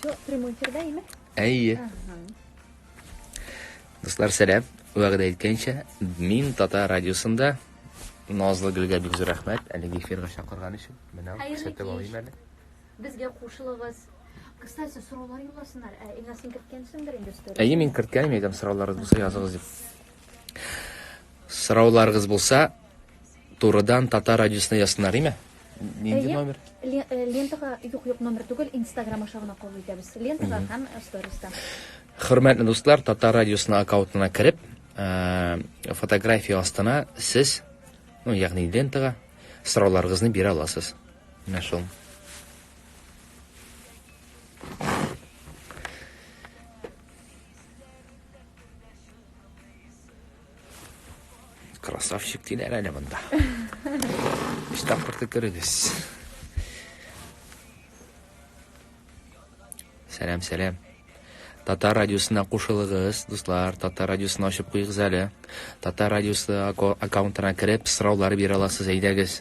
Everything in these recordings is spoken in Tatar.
Все, прямой эфир, да, имя? Әйе. Ага. Дуслар, сәлам. Вәгъдә иткәнчә, мин Тата радиосында Назлы гөлгә бик зур рәхмәт. Әлеге эфирга чакырган өчен. Менә күрсәтеп алыйм әле. Безгә кушылыгыз. Кстати, сораулар юлласыннар. Ә Илназ, син керткәнсеңдер инде сторис. Әйе, мин керткәнем әйтәм, сорауларыгыз булса языгыз дип. Сорауларыгыз булса турыдан татар радиосына язсыннар, име? Нинди Әйе. номер? Ле- э, Лентага юк, юк, номер түгел, Инстаграм аша гына кабул итәбез. Лентага һәм сториста. Хөрмәтле дуслар, Татар радиосына аккаунтына кереп, ә, фотография астына сез, ну, ягъни лентага сорауларыгызны бирә аласыз. Менә шул. Красавчик диләр әле монда. Өч тапкыр төкерегез. Сәлам, сәлам. Татар радиосына кушылыгыз, дуслар. Татар радиосын ачып куйыгыз әле. Татар радиосы аккаунтына кереп, сораулар бирә аласыз, әйдәгез.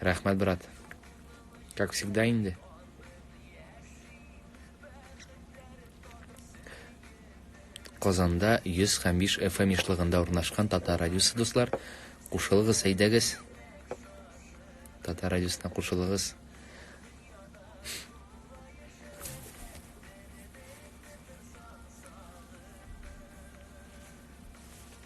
Рәхмәт, брат. Как всегда инде. Казанда 105 FM ишлыгында урнашкан Татар радиосы дуслар, кушылыгыз, әйдәгез. Татар радиосына кушылыгыз.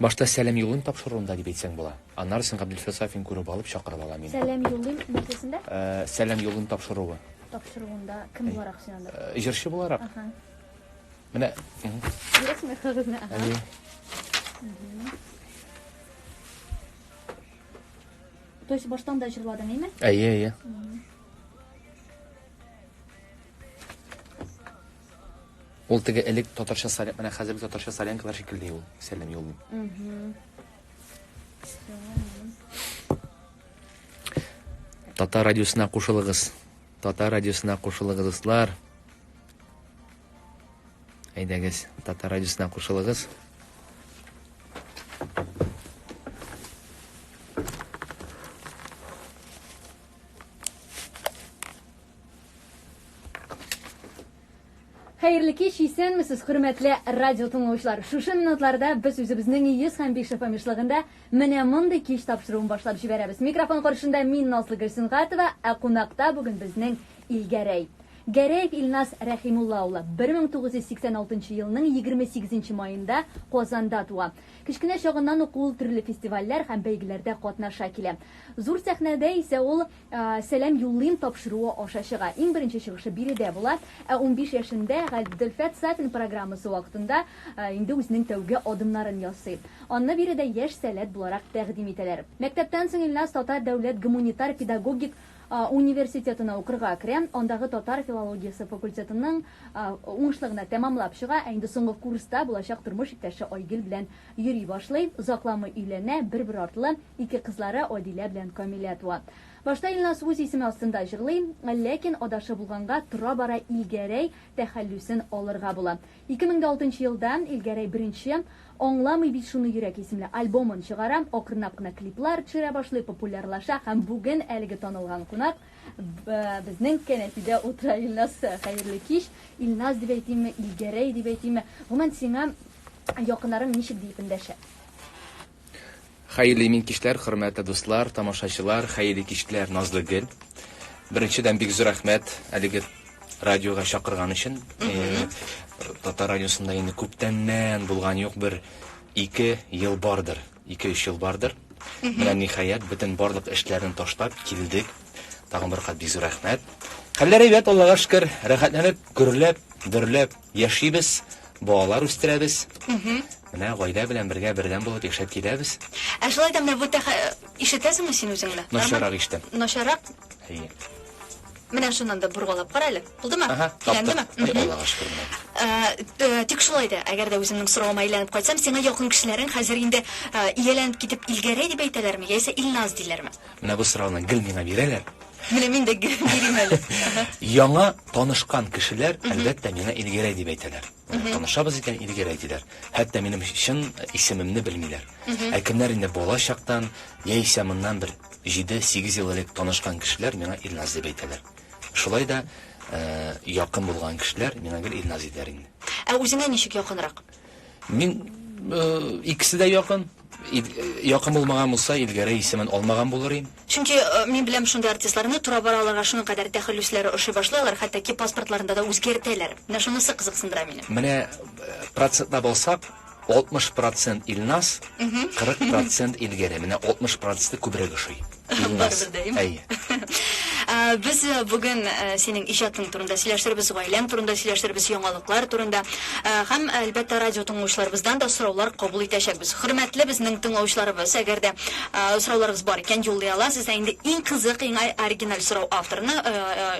Башта сәлам юлыйм тапшыруында дип әйтсәң була. Аннары син Габделфил Сафин күреп алып чакырып ала мине. Сәлам юлыйм нәрсәсендә? Э, сәлам юлыйм тапшыруы. Тапшыруында кем э, буларак син анда? Э, җырчы буларак. Ага. Менә. Бирәсеңме кагызны? Ага. Әйе. То есть баштан да җырладың, әйме? Әйе, әйе. Ул теге элек татарча сарен, менә хәзерге татарча саренкалар шикелле юл, сәлем юл. Татар радиосына кушылыгыз. Татар радиосына кушылыгыз, дуслар. Әйдәгез, татар радиосына кушылыгыз. Хәерле кич, исәнмесез, хөрмәтле радио тыңлаучылар. Шушы минутларда без үзебезнең 105 FM ишлыгында менә мондый кич тапшыруын башлап җибәрәбез. Микрофон каршында мин Назлы Гөлсингатова, ә кунакта бүген безнең Илгәрәй. Гәрәев Илназ Рәхимулла улы 1986 елның 28 маенда Казанда туа. Кечкенә чагыннан ук ул төрле фестивальләр һәм бәйгеләрдә катнаша килә. Зур сәхнәдә исә ул Сәлам юллыйм тапшыруы аша чыга. Иң беренче чыгышы биредә була. Ә унбиш яшендә Габделфәт Сафин программасы вакытында инде үзенең тәүге адымнарын ясый. Анны биредә яшь сәләт буларак тәкъдим итәләр. Мәктәптән соң Ильназ Татар дәүләт гомунитар педагогик университетына укырга керә. Андагы татар филологиясе факультетының уңышлы гына тәмамлап чыга. Ә инде соңгы курста булачак тормыш иптәше Айгөл белән Йөри башлый, озакламый өйләнә, бер-бер артлы ике кызлары Адилә белән Камилә туа. Башта Илназ үз исеме астында җырлый, ләкин адашып булганга, тора-бара Илгәрәй тәхәллүсен алырга була. 2006 нчы елда Илгәрәй беренче Аңламый бит шуны йөрәк исемле альбомын чыгара, акрынлап кына клиплар төшерә башлый, популярлаша һәм бүген әлеге танылган кунак безнең кәнәфидә утыра. Илназ, хәерле кич! Илназ дип әйтимме, Илгәрәй дип әйтимме? Гомумән, сиңа Якыннарым ничек диеп эндәшә? Хәерле имин кичләр, хөрмәтле дуслар, тамашачылар, хәерле кичләр, назлы гел. Беренчедән бик зур рәхмәт әлеге радиога чакырган өчен. Татар радиосында инде күптәннән булган юк бер ике ел бардыр, ике өч ел бардыр. Менә ниһаять бөтен барлык эшләрен ташлап килдек. Тагын бер кат бик зур рәхмәт. Хәлләр әйбәт, Аллага шөкер, рәхәтләнеп, гөрләп, дөрләп Яшибез, балалар үстерәбез. Менә гаилә белән бергә бердәм булып яшәп киләбез. Ә шулай да менә бу тәхә... Ишетәсеңме син үзеңне? Начаррак ишетәм. Начаррак? Әйе. Менә шуннан да бургалап кара әле. Булдымы? Ага, Әйләндеме? Аллага шөкер менә. Ә, тик шулай да, әгәр дә үземнең соравыма әйләнеп кайтсам, сиңа якын кешеләрең хәзер инде ияләнеп китеп Илгәрәй дип әйтәләрме, яисә Илназ диләрме? Менә бу сорауны гел миңа бирәләр. Менә мин дә гел бирим әле. Яңа танышкан кешеләр, әлбәттә, миңа Илгерәй дип әйтәләр. Танышабыз икән, Илгерәй диләр. Хәтта минем чын исемемне белмиләр. Ә кемнәр инде бала чактан, яисә моннан бер җиде-сигез ел элек танышкан кешеләр миңа Илназ дип әйтәләр. Шулай да якын булган кешеләр миңа гел Илназ диләр инде. Ә үзеңә ничек якынрак? Мин икесе дә якын. Якын булмаган булса, Илгәрәй исемен алмаган булыр идем. Чөнки мин беләм шундый артистларны, тора-бара аларга шуның кадәр тәхәллүсләре ошый башлый, алар хәтта ки паспортларында да үзгәртәләр. Менә шунысы кызыксындыра мине. Менә процентлап алсак, 60 процент Илназ, 40 процент Илгәрәй. Менә 60 проценты күбрәк ошый. Барыбердәем. Әйе. Без э, бүген э, синең иҗатың турында сөйләштербез, гаиләң турында сөйләштербез, яңалыклар турында э, һәм әлбәттә радио тыңлаучыларыбыздан да сораулар кабул итәчәкбез. Хөрмәтле безнең тыңлаучыларыбыз, әгәр дә сорауларыгыз бар икән, юллый аласыз. Ә инде иң кызык, иң оригиналь сорау авторына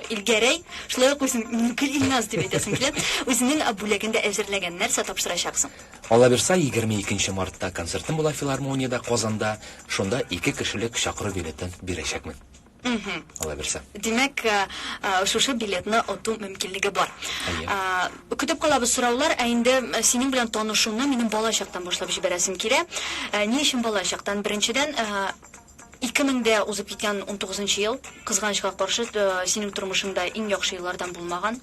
Илгәрәй, шулай ук үзен Нукил Илназ дип әйтәсем килә, үзенең бүләген дә әзерләгән. Нәрсә тапшырачаксың? Калабирса егерме икенче мартта концертым була филармониядә Казанда, шунда ике кешелек чакыру билетын бирәчәкмен. Мхм. Калабирса. Димәк, шушы билетны оту мөмкинлеге бар. Әйе. Көтеп калабыз сораулар, ә инде синең белән танышуны минем бала чактан башлап җибәрәсем килә. Ни өчен бала чактан? Беренчедән, ике меңдә узып киткән унтугызынчы ел, кызганычка каршы, синең тормышыңда иң яхшы еллардан булмаган.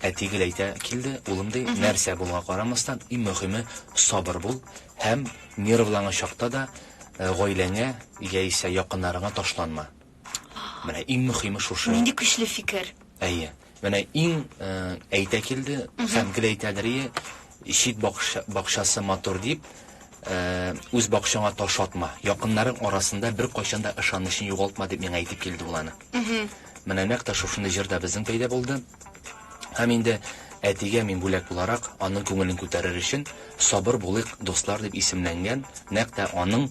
Әти гел әйтә килде, улым, ди, нәрсә булуга карамастан, иң мөхиме, сабыр бул һәм нервланган чакта да гаиләңә яисә якыннарыңа ташланма. Менә иң мөхиме шушы. Нинди көчле фикер. Әйе. Менә иң әйтә килде һәм гел әйтәдерие, чит бакчасы матур дип, үз бакчаңа таш атма, якыннарың арасында беркайчан да ышанычны югалтма дип миңа әйтеп килде ул аны. Менә нәкъ тә шушындый җыр да безнең пәйда булды. Һәм инде Әтигә мин бүләк буларак, аның күңелен күтәрер өчен, Сабыр булыйк, дуслар дип исемләнгән, нәкъ тә аның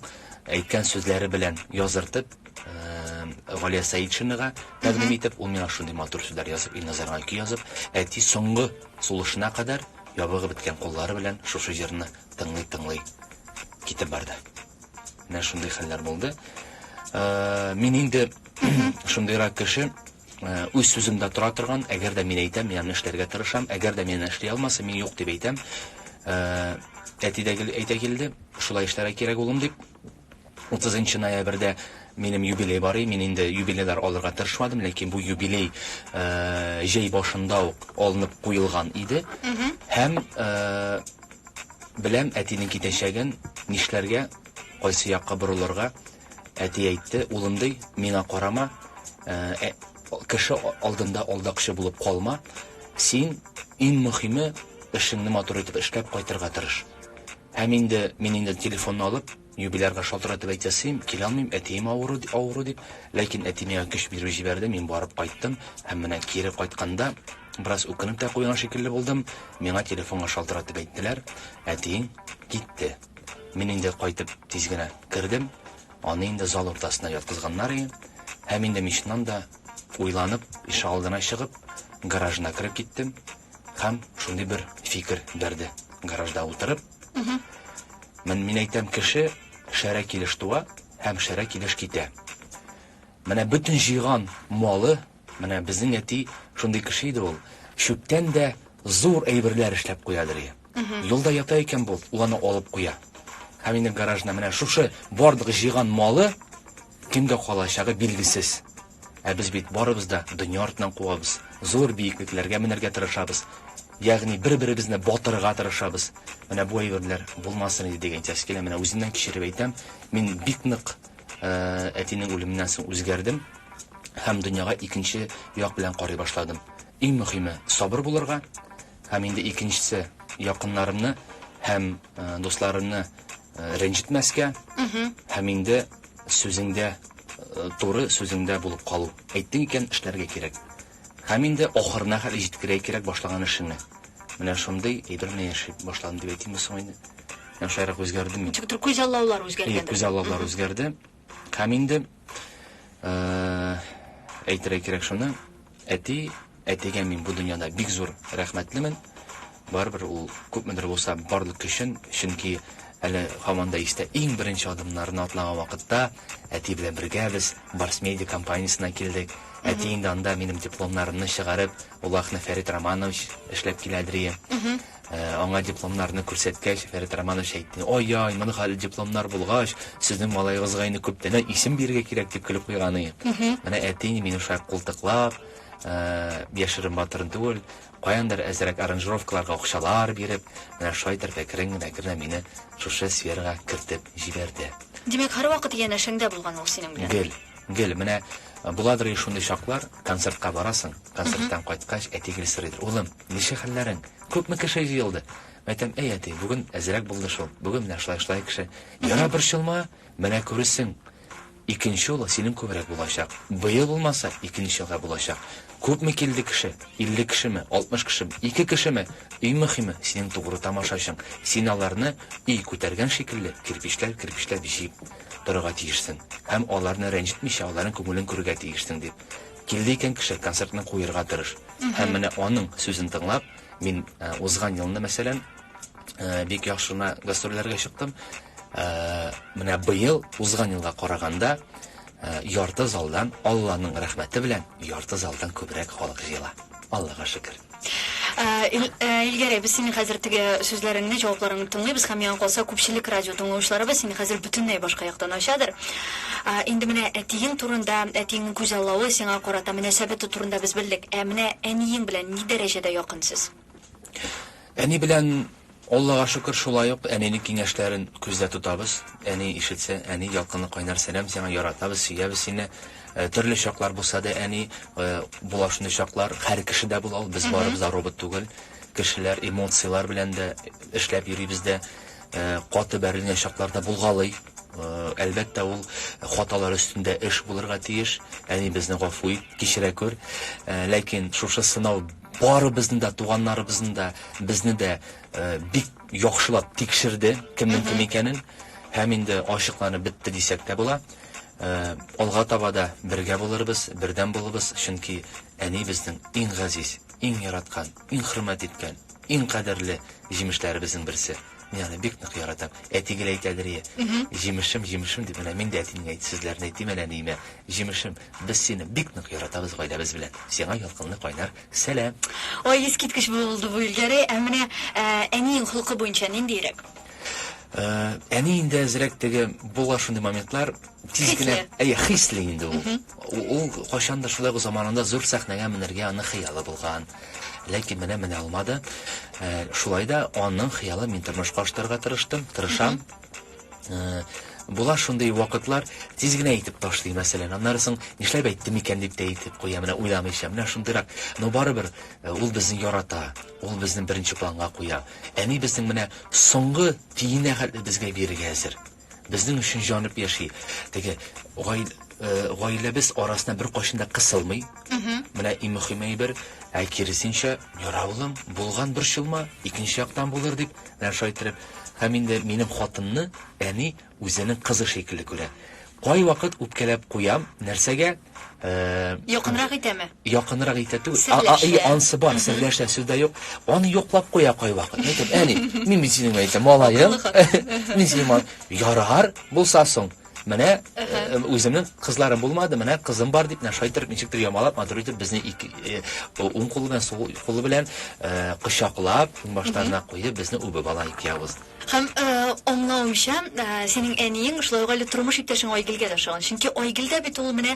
әйткән сүзләре белән языртып, Галия Сәетшинага тәкъдим итеп, ул миңа шундый матур сүзләр язып, Илназарга көй язып, әти соңгы сулышына кадәр ябыгып беткән куллары белән шушы җырны тыңлый-тыңлый китеп барды. Менә шундый хәлләр булды. Э, мин инде шундыйрак кеше, э, үз сүземдә тора торган, әгәр дә мин әйтәм, мин аны эшләргә тырышам, әгәр дә мин аны эшли алмасам, мин юк дип әйтәм. Э, әти дә әйтә килде, шулай эшләргә кирәк улым дип. 30 ноябрьдә минем юбилей бар и мин инде юбилейлар алырга тырышмадым ләкин бу юбилей э, җәй башында ук алынып куелган иде һәм э, Беләм, әтинең китәчәген, нишләргә, кайсы якка борылырга. Әти әйтте, улым, ди, миңа карама, ә кеше алдында алдакчы булып калма. Син, иң мөхиме, эшеңне матур итеп эшләп кайтырга тырыш. Һәм инде мин инде телефонны алып. Юбилярга шалтыратып әйтәсем килә алмыйм, әтием авыру, авыру дип, ләкин әти миңа көч биреп җибәрде, мин барып кайттым һәм менә кире кайтканда, бераз үкенеп тә куйган шикелле булдым, миңа телефонга шалтыратып әйттеләр, әтиең китте. Мин инде кайтып тиз генә кердем, аны инде зал уртасына яткызганнар иде һәм инде мин чыннан да уйланып, ишегалдына чыгып, гаражына кереп киттем һәм шундый бер фикер бәрде, гаражда утырып, Мен, мин әйтәм, кеше шәрә килеш туа һәм шәрә килеш китә. Менә бөтен җыйган малы, менә безнең әти шундый кеше иде ул, чүптән дә зур әйберләр эшләп куядыр и. Юлда ята икән бу, ул аны алып куя. Һәм инде гаражына менә шушы барлык җыйган малы кемгә калачагы билгесез. Ә без бит барыбыз да дөнья артыннан куабыз, зур биеклекләргә менәргә тырышабыз, ягъни бер-беребезне батырырга тырышабыз. Менә бу әйберләр булмасын иде диген киләсе килә. Менә үземнән кичереп әйтәм, мин бик нык әтинең үлеменнән соң үзгәрдем һәм дөньяга икенче як белән карый башладым. Иң мөхиме, сабыр булырга, Һәм инде икенчесе, якыннарымны һәм дусларымны рәнҗетмәскә, һәм инде сүзеңдә туры сүзеңдә булып калу. Әйттең икән, эшләргә кирәк. Һәм инде ахырына хәтле җиткерә кирәк башлаган эшеңне. Менә шундый әйбер белән яши башладым дип әйтимме соң инде. Менә шулайрак үзгәрдем мин. Күз аллаулар үзгәргәндер. Күз аллаулар үзгәрде. Һәм инде әйтергә кирәк шуны, әти, әтигә мин бу дөньяда бик зур рәхмәтлемен. Барыбер ул күпмедер булса барлык көчен, чөнки әле һаман да истә иң беренче адымнарны атлаган вакытта әти белән бергә без Барс Медиа компаниясенә килдек. Әти инде анда минем дипломнарымны чыгарып, Улахны Фәрит Романович эшләп килә дрие. Аңа дипломнарны күрсәткәч, Фәрит Романович әйтте, Ай-яй, моны хәл дипломнар булгач, сезнең малаегызга инде күптәннән исем бирергә кирәк, дип көлеп куйган иде. Менә әти инде мине шулай култыклап, яшерен батырын түгел, каяндыр әзрәк аранжировкаларга акчалар биреп, менә шулай итеп әкрен генә әкрен генә мине шушы сферага кертеп җибәрде. Димәк, һәрвакыт янәшәңдә булган ул синең белән? Гел, гел. Менә буладыр и шундый чаклар, концертка барасың, концерттан кайткач, әти гел сорыйдыр, Улым, Ничек хәлләрең? Күпме кеше җыелды? Әйтәм, Әй, әти, бүген әзрәк булды шул. Бүген менә шулай-шулай кеше. Яра, борчылма, менә күрерсең, икенче юлы синең күбрәк булачак. Быел булмаса, икенче елга булачак. Күпме килде кеше? Илле кешеме? Алтмыш кешеме? Ике кешеме? Иң мөһиме, синең тугры тамашачың. Син аларны, өй күтәргән шикелле, кирпечләп-кирпечләп җыеп торырга тиешсең. Һәм аларны рәнҗетмичә, аларның күңелен күрергә тиешсең, дип, Килде икән кеше, концертны куерга тырыш. Һәм менә аның сүзен тыңлап, мин узган елны, мәсәлән, бик яхшы гына гастрольләргә чыктым. Менә быел, узган елга караганда, ярты залдан, Алланың рәхмәте белән, ярты залдан күбрәк халык җыела. Аллага шөкер. Ил Илгәрәй, без синең хәзер теге сүзләреңне, җавапларыңны тыңлыйбыз һәм миңа калса күпчелек радио тыңлаучыларыбыз сине хәзер бөтенләй башка яктан ачадыр. Инде менә әтиең турында, әтиеңнең күзаллавы сиңа карата мөнәсәбәте турында без белдек. Ә менә әниең белән ни дәрәҗәдә якын сез? Әни белән Аллага шөкер, шулай ук әнинең киңәшләрен күздә тотабыз. Әни ишетсә, әни, ялкынлы кайнар сәлам сиңа, яратабыз, сөябез сине. Төрле чаклар булса да, әни, була шундый чаклар, хәр кеше дә була ул, без барыбыз да робот түгел, кешеләр, эмоцияләр белән дә эшләп йөрибез дә, каты бәрелгән чаклар да булгалый. Әлбәттә, ул хаталар өстендә эш булырга тиеш, әни, безне гафу ит, кичерә күр. Ләкин шушы сынау. Барыбызны да, туганнарыбызны да, безне дә бик яхшылап тикшерде, кемнең кем икәнен. Һәм инде ачыкланып бетте дисәк тә була. Алга таба да бергә булырбыз, бердәм булыбыз, чөнки әни безнең иң газиз, иң яраткан, иң хөрмәт иткән, иң кадерле җимешләребезнең берсе. Мин аны бик нык яратам. Әти гел әйтәдер, Җимешем, җимешем, дип, менә мин дә әтине әйт, сезләрне әйтим, әнә ниемә, җимешем. Без сине бик нык яратабыз гаиләбез белән. Сиңа ялкынлы кайнар сәлам. Ой, искиткеч булды бу Илгәрәй, ә менә ә, әниең холкы буенча ниндиерәк? Ә, әни инде әзрәк теге була шундый моментлар, тиз Хисле. генә, әйе, хисле инде ул. У- Ул кайчан да шулай ук заманында зур сәхнәгә менергә аның хыялы булган. Ләкин менә менә алмады. Ә, шулай да аның хыялын мин тормышка ашытырга тырыштым, тырышам. Була шундый вакытлар, тиз генә әйтеп ташлый, мәсәлән. Аннары соң нишләп әйттем икән дип тә әйтеп куя, менә уйламыйча. Менә шундыйрак. Но барыбер э, ул безне ярата, ул безне беренче планга куя. Әни безнең менә соңгы тиенә хәтле безгә бирергә әзер. Безнең өчен җанып яши. Теге э, гаиләбез арасына бер кайчан да кысылмый. Менә иң мөһим әйбер, ә киресенчә, яраулым, булган борчылма, икенче яктан булыр дип Менә шулай иттереп, һәм инде минем хатынны әни үзенең кызы шикелле күрә. Кайвакыт үпкәләп куям, нәрсәгә, э. Якынрак итәме? Якынрак итә түгел. Серләшә. И, ансы бар, серләшә, сүз дә юк. Аны йоклап куя кайвакыт. Әйтәм, әни, мин бит синең, әйтәм, малаең. Мин синең малаең. Ярар, булса соң. Менә э, үземнең кызларым булмады, менә кызым бар дип, менә шайтыр ничектер ямалап, матур итеп безне ике э, уң кулы белән сул кулы белән э, кочаклап, баштарына куеп безне үбеп ала ике явыз. Һәм аңлавымча, синең әниең шулай ук әле тормыш иптәшең Айгилгә дә ошаган. Чөнки Айгил дә бит ул менә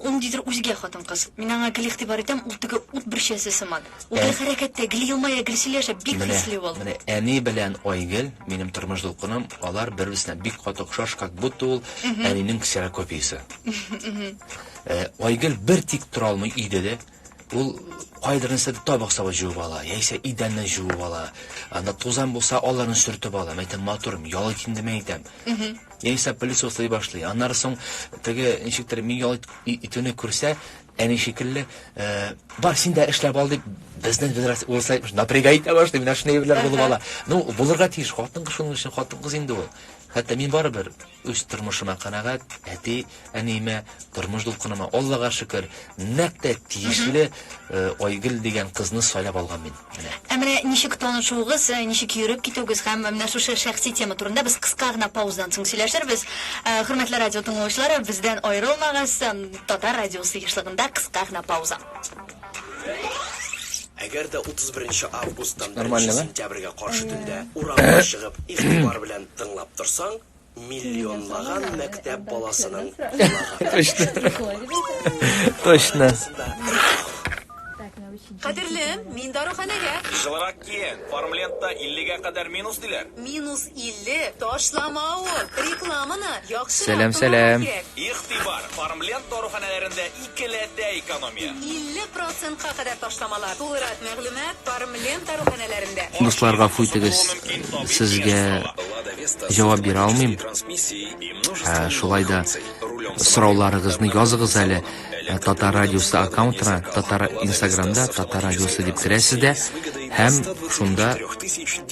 ул дидер үзгә хатын-кыз. Мин аңа гел игътибар итәм, ул теге ут бөрчәсе сыман. Ул бер хәрәкәттә гел елмая, гел сөйләшә, бик Менә, хисле ул. менә әни белән Айгөл, минем тормыш дулкыным, алар бер-берсенә бик каты охшаш, как будто ул әнинең ксерокопиясе. Э, Айгөл бер тик тора алмый өйдә дә. Ул кайдыр нәрсә дә табак саба җуып ала, яисә идәнне җуып ала. Анда тузан булса, аларны сөртеп ала. Мәйтәм, матурым, ял итим димә әйтәм. Яисә пылесослый башлый. Аннары соң теге ничектер мин ял ит- и- итүне күрсә, Әни шикелле, бар син дә эшләп ал дип, безнең генерация урыслар әйтмеш, напрягай итә башлый, менә шундый әйберләр булып ала. Ну, булырга тиеш, хатын-кыз шуның өчен хатын-кыз инде ул. Хәтта мин барыбер үз тормышыма канәгать, әти, әниемә, тормыш дулкыныма, Аллага шөкер, нәкъ тә тиешле Айгөл дигән кызны сайлап алган мин. Ә менә ничек танышуыгыз, ничек йөреп китүегез һәм менә шушы шәхси тема турында без кыска гына паузадан соң сөйләшербез. Хөрмәтле радио тыңлаучылары, бездән аерылмагыз, Татар радиосы ешлыгында кыска гына пауза. Әгәр дә 31 августтан 1 сентябрьгә каршы төндә урамга чыгып, игътибар белән тыңлап торсаң, Миллионлаган мәктәп баласының Точно. Кадерлем, мин даруханәгә. Җылырак киен. Фармлентта 50-гә кадәр минус диләр. Минус 50, ташлама ул. Рекламаны яхшырак Сәлам, сәлам. Игътибар, Фармленд даруханәләрендә Келәтдә экономия. 50 процентка кадәр ташламалар. Тулырак мәгълүмат Фармлента руханәләрендә. Дуслар гафу итегез, сезгә җавап бирә алмыйм. Шулай да сорауларыгызны языгыз әле Татар радиосы аккаунтына, Татар Инстаграмда Татар радиосы дип керәсез дә һәм шунда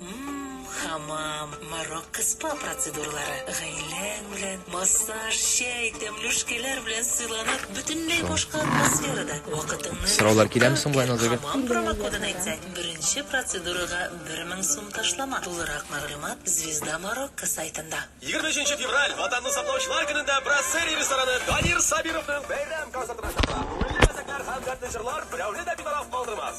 М-м-хамам, Марокко спа процедуралары, гаиләң белән, массаж, чәй, тәмле шкәләр белән сыйланып, бөтенләй башка атмосферада, вакытыңны Сораулар киләме рәхәткә соң болай, үткән Назгөл? Хамам Килә, промокодын язам. әйтсәң, беренче процедурага 1000 сум ташлама. Тулырак мәгълүмат Звезда Марокко сайтында. Егерме өченче февраль, Ватанны саклаучылар көнендә Брассери рестораны Данир Сабировның бәйрәм концертына чакыра. Күңелле мәзәкләр һәм дәртле җырлар берәүне дә битараф калдырмас!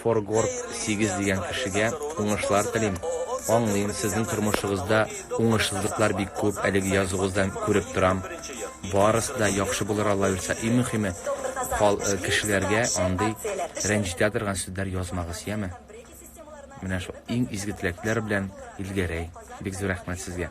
Форгорг сигез дигән кешегә уңышлар телим. Аңлыйм, сезнең тормышыгызда уңышсызлыклар бик күп, әлеге язугыздан күреп торам. Барысы да яхшы булыр Аллаерса, и мөхиме, хал кешеләргә андый рәнҗетә торган сүзләр язмагыз, яме? Менә шул иң изге теләкләр белән Илгәрәй, бик зур рәхмәт сезгә.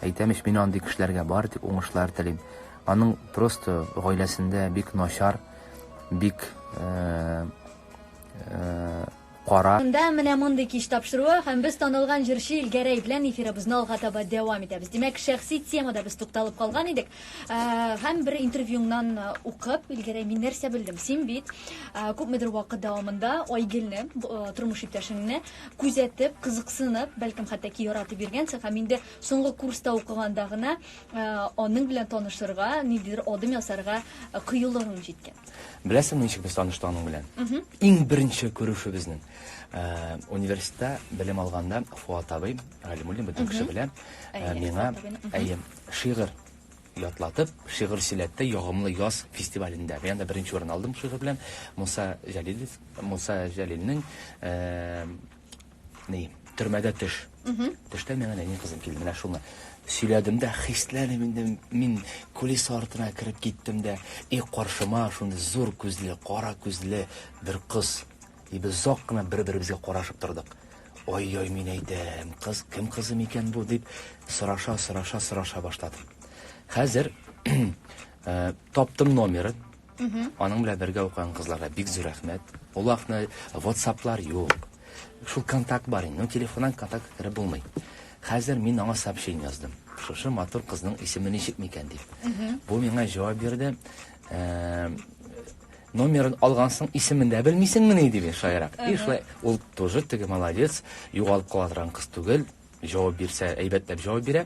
Әйтәм ич мин андый кешеләргә бары тик уңышлар телим. Аның просто гаиләсендә бик начар, бик кара. Монда менә мондый кич тапшыруы һәм без танылган җырчы Илгәрәй белән эфирыбызны алга таба дәвам итәбез. Димәк, шәхси темада без тукталып калган идек. Һәм бер интервьюңнан укып, Илгәрәй, мин нәрсә белдем? Син бит күпмедер вакыт дәвамында Айгелне, тормыш иптәшеңне, күзәтеп, кызыксынып, бәлкем хәтта ки яратып йөргәнсең һәм инде соңгы курста укыганда гына э, аның белән танышырга, ниндидер адым ясарга э, кыюлыгың җиткән. Беләсеңме, ничек без таныштык аның белән? Иң беренче күрешүебезнең э, университетта белем алганда Фуат абый Галимуллин бөтен кеше белә, миңа әйе, шигырь Ятлатып, шигырь сөйләтте Ягымлы яз фестивалендә. Мин анда беренче урын алдым шигырь белән. Муса Җәлилев, Муса Җәлилнең ни, төрмәдә төш. Төштә миңа нәни кызым килде. Менә шуны сөйләдем дә, хисләнеп инде мин кулис артына кереп киттем дә, и каршыма шундый зур күзле, кара күзле бер кыз Дип озак кына бер-беребезгә карашып тордык. Ай-яй, мин әйтәм, кыз кем кызы микән бу, дип сораша-сораша сораша башладым. Хәзер таптым номерын. Аның белән бергә укыган кызларга бик зур рәхмәт. Ул вакытны WhatsApp-лар юк. Шул контакт бар инде, но телефоннан контакт кереп булмый. Хәзер мин аңа сообщение яздым. Шушы матур кызның исеме ничек микән дип. Бу миңа җавап бирде. Номерын алгансың, исемен дә белмисеңмени? диде шаярып. И, шулай, ул тоже теге молодец, югалып кала торган кыз түгел, җавап бирсә, әйбәтләп җавап бирә.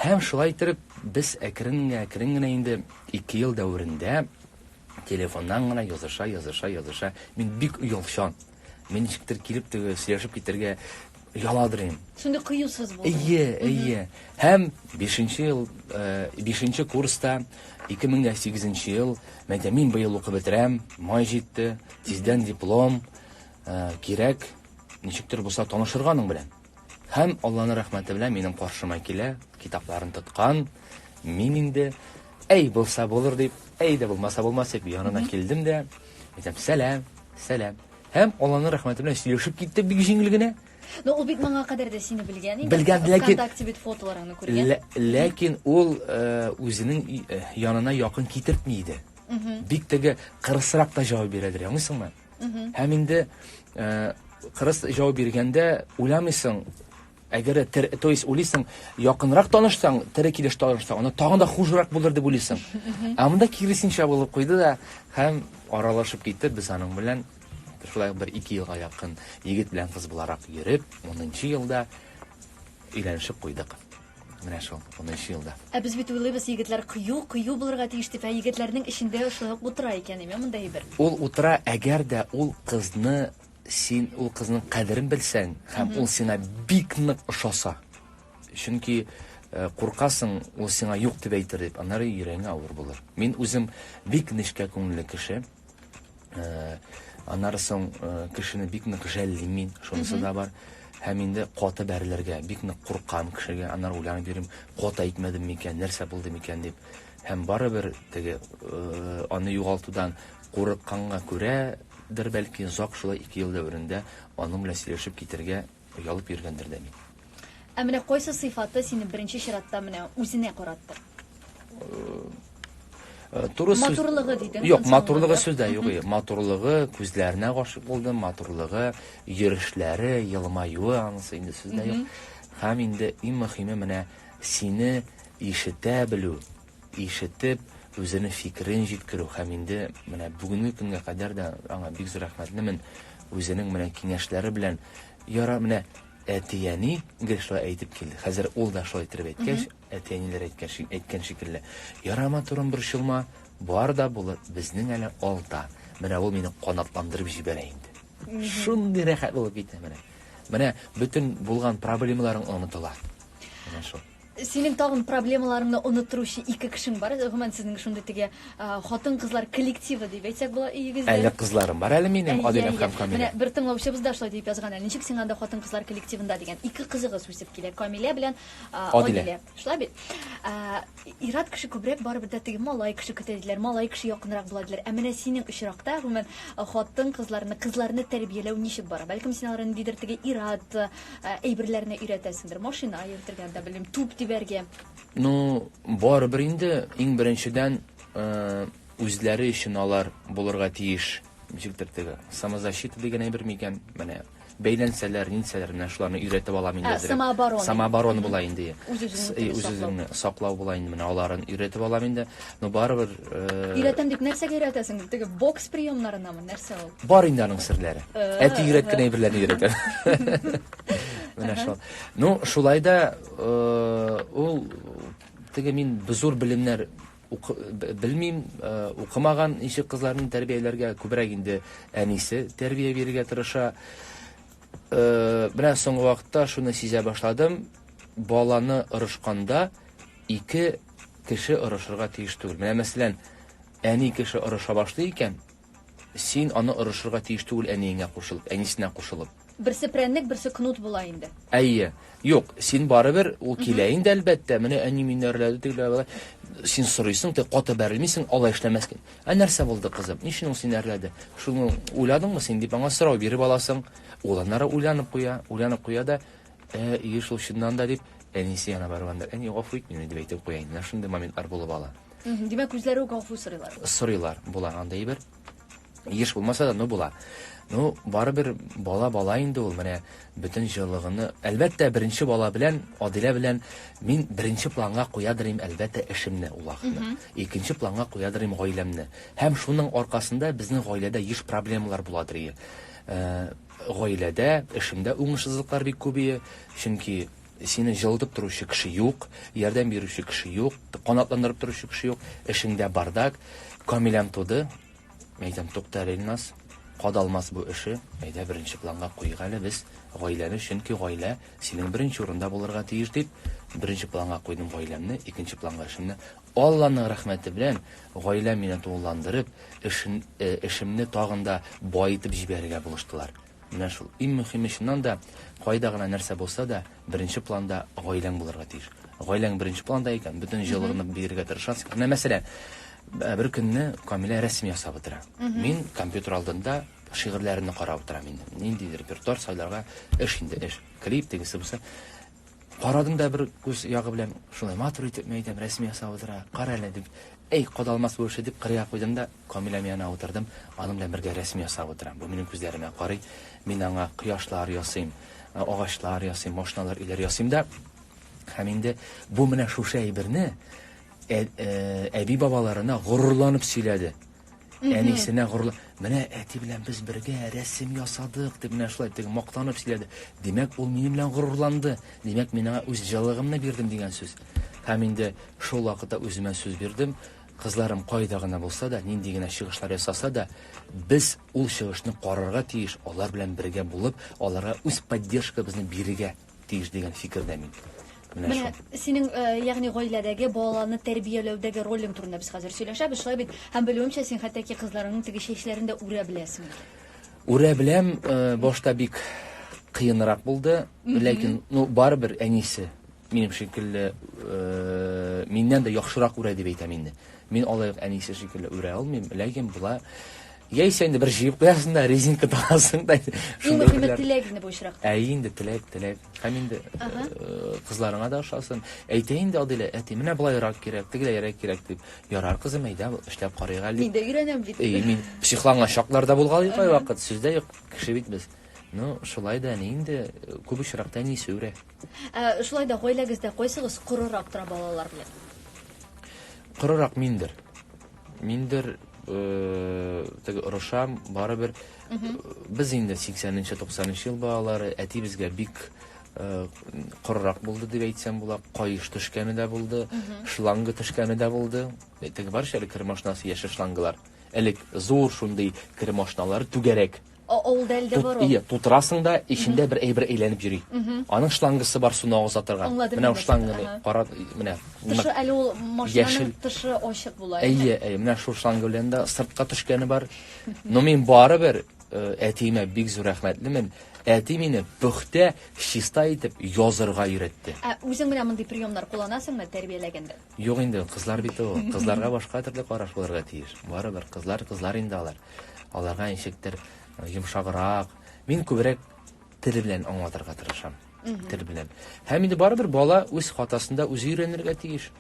Һәм шулай иттереп, без әкрен-әкрен генә инде ике ел дәверендә телефоннан гына языша, языша, языша. Мин бик оялчан. Мин ничектер килеп теге сөйләшеп китәргә яладырыйм. Шундый кыюсыз булды. Әйе, әйе. Һәм 5 ел, 5 э, курста 2008 ел, мәйтә мин быел укып бетерәм, май җитте, тиздән диплом, э, кирәк, ничектер булса танышырганың белән. Һәм Алланың рәхмәте белән минем каршыма килә, китапларын тоткан. Мин инде, әй, булса булыр дип, әй дә булмаса булмас дип, янына килдем дә, әйтәм, сәлам, сәлам. Һәм Алланың рәхмәте белән сөйләшеп киттек бик җиңел генә. Но ул бит моңа кадәр дә сине белгән инде. Белгән, ләкин... Вконтакте бит фотоларыңны күргән. Ләкин ул э, үзенең э, янына якын китертми иде. Бик теге кырысрак та җавап бирәдер, аңлыйсыңмы? Һәм инде э, кырыс җавап биргәндә уйламыйсың, әгәр тер, то есть уйлыйсың, якынрак танышсаң, тере килеш танышсаң, аны тагын да хужырак булыр дип уйлыйсың. Ә монда киресенчә булып куйды да һәм аралашып китте без аның белән шулай бер ике елга якын егет белән кыз буларак йөреп, 10 елда өйләнешеп куйдык. Менә шул, унынчы елда. Ә без бит уйлыйбыз, егетләр кыю, кыю булырга тиеш дип, ә егетләрнең эчендә шулай ук утыра икән, әйме монда әйбер. Ул утыра, әгәр дә ул кызны син ул кызның кадерен белсәң һәм ул сиңа бик нык ошаса. Чөнки э, куркасың, ул сиңа юк дип әйтер дип, аннары йөрәгеңә авыр булыр. Мин үзем бик нечкә күңелле кеше. Э, аннары соң э, кешене бик нык жәллим мин шунысы да бар һәм инде каты бәрелергә бик нык куркам кешегә аннары уйланып йөрим кат әйтмәдем микән нәрсә булды микән дип һәм барыбер теге э, аны югалтудан курыкканга күрәдер бәлки зак шулай ике ел дәверендә аның белән сөйләшеп китергә Оялып йөргәндер дә бит. Ә менә кайсы сыйфаты сине беренче чиратта менә үзенә каратты? Э, туры сүз... матурлыгы дидем юк матурлыгы сүздә юк матурлыгы күзләренә гашык булдым матурлыгы йөрешләре елмаюы анысы инде сүздә юк һәм инде иң мөһиме менә сине ишетә белү ишетеп, үзенең фикерен җиткерү һәм инде менә бүгенге көнгә кадәр дә аңа бик зур рәхмәтлемен, үзенең менә киңәшләре белән, яра, менә әти-әни гел шулай әйтеп килде, хәзер ул да шулай иттереп әйткәч, әти-әниләр әйткәч, әйткән шикелле, яра, матурым, борчылма, бар да булыр, безнең әле алда, менә ул мине канатландырып җибәрә инде. Шундый рәхәт булып китә, менә, менә бөтен булган проблемаларың онытыла, менә шул. Синең тагын проблемаларыңны оныттыручы ике кешең бар. Гомумән сезнең шундый теге хатын-кызлар коллективы дип әйтсәк була өегездә. Әле кызларым бар әле минем, Адиләм һәм Камилә. Менә бер тыңлаучыбыз да шулай дип язган әле. Ничек сиңа анда хатын-кызлар коллективында дигән. Ике кызыгыз үсеп килә, Камилә белән Адилә. Шулай бит? Ират кеше күбрәк барыбер дә теге малай кеше көтә диләр, малай кеше якынрак була диләр. Ә менә синең очракта, гомумән, хатын-кызларны, кызларны тәрбияләү ничек бара? Бәлкем син аларны ниндидер теге Ират, ә, әйберләрне өйрәтәсендер. Машина йөртергә дә белем, туп дибәргә. Ну, барыбер инде иң беренчедән э, үзләре өчен алар булырга тиеш. Ничектер теге самозащита дигән әйбер микән? Менә бәйләнсәләр, нинсәләр менә шуларны өйрәтеп алам инде. Ә, самооборона. Самооборона була инде. Үз-үзеңне саклау була инде менә аларын өйрәтеп алам инде. но барыбер э, өйрәтәм дип нәрсәгә өйрәтәсең теге бокс приемнарынамы нәрсә ул бар инде аның серләре э, әти өйрәткән әйберләрне өйрәтә менә шул ну шулай да э, ул теге мин зур белемнәр белмим укымаган ничек кызларны тәрбияләргә күбрәк инде әнисе тәрбия бирергә тырыша менә соңгы вакытта шуны сизә башладым баланы ырышканда Ике кеше орышырга тиеш түгел. Менә мәсәлән, әни кеше орыша башлый икән, син аны орышырга тиеш түгел әниеңә кушылып, әнисенә кушылып. Берсе прәннек, берсе кнут була инде. Әйе. Юк, син барыбер, ул килә инде, әлбәттә, менә әни мине әрләде, тегеләр болай. Син сорыйсың, ты каты бәрелмисең, алай эшләмәскә. Ә нәрсә булды, кызым? Ни өчен ул сине әрләде? Шуны уйладыңмы син, дип аңа сорау биреп аласың. Ул аннары уйланып куя, уйланып куя да, Ә өе шул чыннан да дип, әнисе яна барганда, әни, гафу ит мине, дип әйтеп куя инде. Шундый моментлар булып ала. Димәк, үзләре үк гафу сорыйлар. Сорыйлар, була андый бер. Еш булмаса да, но була. Ну, барыбер бала бала инде ул, менә бөтен җылыгыны. Әлбәттә, беренче бала белән, Адилә белән мин беренче планга куядыр идем, әлбәттә, эшемне, ул ахны. Икенче планга куядыр идем гаиләмне. Һәм шуның аркасында безнең гаиләдә еш проблемалар буладыр. Э, Гаиләдә, эшеңдә уңышсызлыклар бик күбее, чөнки сине җылытып торучы кеше юк, ярдәм бирүче кеше юк, канатландырып торучы кеше юк, эшеңдә бардак. Камиләм туды. Мин әйтәм, тукта әле, Илназ, кадалмас бу эше, әйдә беренче планга куйыйк әле без гаиләне, чөнки гаилә синең беренче урында булырга тиеш, дип, беренче планга куйдым гаиләмне, икенче планга эшемне. Алланың рәхмәте белән гаиләм мине тулыландырып, эшен, эшемне тагын да баетып җибәрергә булыштылар. Менә шул. Иң мөһиме, чыннан да, кайда гына нәрсә булса да, беренче планда гаиләң булырга тиеш. Гаиләң беренче планда икән, бөтен җылыгыңны бирергә тырышасың. Менә мәсәлән, бер көнне Камилә рәсем ясап утыра. Мин компьютер алдында шигырьләрне карап утырам инде. Ниндидер репертуар сайларга, эш инде, эш. Клип тегесе бусы. Карадым да бер күз ягы белән, шулай матур итеп мәйдәм рәсем ясап утыра, кара әле, дип. Әй, кадалмас бу эше, дип, кырыйга куйдым да, Камиләм янына утырдым, аның белән бергә рәсем ясап утырам. Бу минем күзләремә карый, мин аңа кояшлар ясыйм, агачлар ясыйм, машиналар, өйләр ясыйм да. Һәм инде бу менә шушы әйберне әби-бабаларына горурланып сөйләде. Әнисенә горурлы. Менә әти белән без бергә рәсем ясадык, дип менә шулай теге мактанып сөйләде. Димәк, ул минем белән горурланды. Димәк, мин аңа үз җылыгымны бирдем дигән сүз. Һәм инде шул вакытта үземә сүз бирдем. Кызларым кайда гына булса да, нинди генә чыгышлар ясаса да, без ул чыгышны карарга тиеш, алар белән бергә булып, аларга үз поддержкабызны бирергә тиеш дигән фикердә мин. Менә шул. Менә синең, э, ягъни гаиләдәге балаларны тәрбияләүдәге ролең турында без хәзер сөйләшәбез, шулай бит? Һәм белүемчә, син хәтта ки кызларыңның теге чәчләрен дә үрә беләсең. Үрә беләм, э, башта бик кыенрак булды, ләкин, ну, барыбер әнисе минем шикелле, э, миннән дә яхшырак үрә дип әйтәм инде. Мин алай әнисе шикелле үрә алмыйм, ләкин була Яисә инде бер җыеп куясың да, резинка тагасың да. Иң мөһиме теләк инде бу очракта. Ә инде теләк, теләк. Һәм инде э, кызларыңа да ошасын. Әйтә инде Адилә, әти, менә болайрак кирәк, тегеләйрәк кирәк дип. Ярар, кызым, әйдә, эшләп карыйк әле. Мин дә өйрәнәм бит. Әй, мин психланган чаклар да булган бит кайвакыт, сүздә юк, кеше бит без. Ну, шулай да әни инде э, күп очракта әни сүрә. Ә, шулай да гаиләгездә кайсыгыз корырак тора балалар белән? Корырак миндер. Миндер теге орышам, барыбер без инде 80-нче, 90-нчы ел балалары, әти безгә бик корырак булды дип әйтсәм була, каеш төшкәне дә булды, шланга төшкәне дә булды. Теге бар шәле кермашнасы яшәш шлангалар. Элек зур шундый кермашналар түгәрәк О, ул дәлде Тут, бору. ие, тутырасың да, эчендә бер әйбер әйләнеп йөри. Аның шлангасы бар суны агыза торган. Аңладым, Менә аңладым, шланга ага. ни, кара, менә. Тышы әле ул Яшел. машинаның тышы ачык була. Әйе, әйе, менә шул шланга белән дә сыртка төшкәне бар. Но мин барыбер э, әтиемә бик зур рәхмәтлемен. Әти мине пөхтә, чиста итеп язырга өйрәтте. Ә үзең менә мондый приемнар кулланасыңмы тәрбияләгәндә? Юк инде ул, кызлар бит ул. Кызларга башка төрле караш булырга тиеш. Барыбер кызлар, кызлар инде алар. Аларга ничектер э, йомшаграк. Мин күбрәк тел белән аңлатырга тырышам. Тел белән. Һәм инде барыбер бала үз хатасында үзе өйрәнергә тиеш.